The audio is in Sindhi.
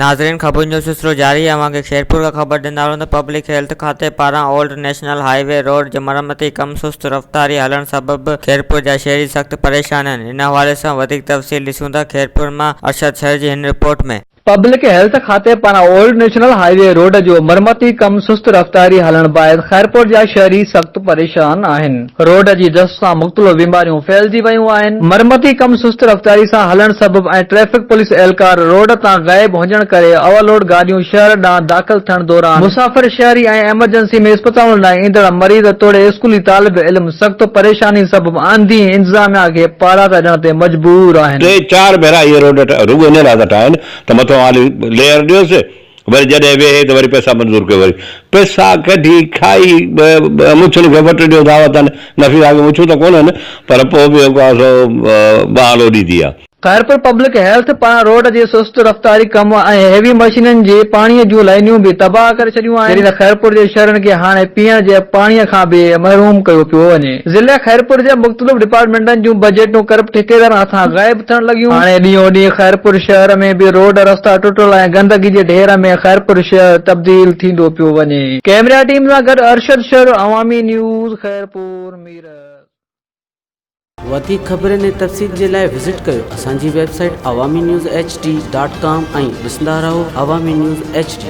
ناظرين خبرن جو سلسلو جاري آهي اوهان کي خيرپور کان خبر ڏيندا هلون ته پبلڪ هيلٿ کاتي پاران old national highway road جي مرمتي ڪم سست رفتاري هلڻ سبب خيرپور جا شهري سخت پريشان آهن ان حوالي سان وڌيڪ تفصيل ڏسون ٿا خيرپور مان ارشد سرجي هن رپورٽ ۾. پبلڪ هيلٿ کاتي پاران old national highway road جو مرمتي ڪم سست رفتاري هلڻ باعث خيرپور جا شهري سخت پريشان آهن، روڊ جي دست سان مختلف بيماريون ڦهلجي ويون آهن، مرمتي ڪم سست رفتاري سان هلڻ سبب ۽ ٽريفڪ پوليس اهلڪار روڊ تان غائب هجڻ ڪري اوورلوڊ گاڏيون شهر ڏانهن داخل ٿيڻ دوران مسافر، شهري ۽ ايمرجنسي ۾ اسپتالن ڏانهن ايندڙ مريض توڙي اسڪولي طالب علم سخت پريشانين سبب آنڌي انتظاميا کي پاڙاٽا ڏيڻ تي مجبور آهن. ٽي چار ڀيرا اهي روڊ رڳو ان لاء ٿا ٺاهن ته مٿو آلي ليئر ڏيوس وري جڏهن ويهي ته وري پئسا منظور ڪيو وري پئسا ڪڍي کائي مڇن کي وٽ ڏيو دعوتن نفيسا کي مڇون ته ڪونهن پر پوء به جيڪو آهي سو بهانو ڏيندي آهي. خيرپور پبلڪ هيلٿ پاران روڊ جي سست رفتاري ڪم ۽ هيوي مشينن جي پاڻي جون لائينيون به تباهه ڪري ڇڏيون آهن جڏهن ته خيرپور جي شهرين کي هاڻي پيئڻ جي پاڻي کان به محروم ڪيو پيو وڃي ضلعي خيرپور جي مختلف ڊپارٽمينٽن جون بجيٽون ڪرپٽ ٺيڪيدارن هٿان غائب ٿيڻ لڳيون هاڻي ڏينهون ڏينهن خيرپور شهر ۾ به روڊ رستا ٽٽل ۽ گندگي جي ڍير ۾ خيرپور شهر تبديل ٿيندو پيو وڃي. ڪيمرا ٽيم سان گڏ ارشد شر عوامي نيوز خيرپور ميرس. وڌيڪ خبرن ۽ تفصيل جي لاء وزٽ ڪيو اسان جي website Awami news H D dot com ۽ ڏسندا رهو عوامي نيوز ايڇ ڊي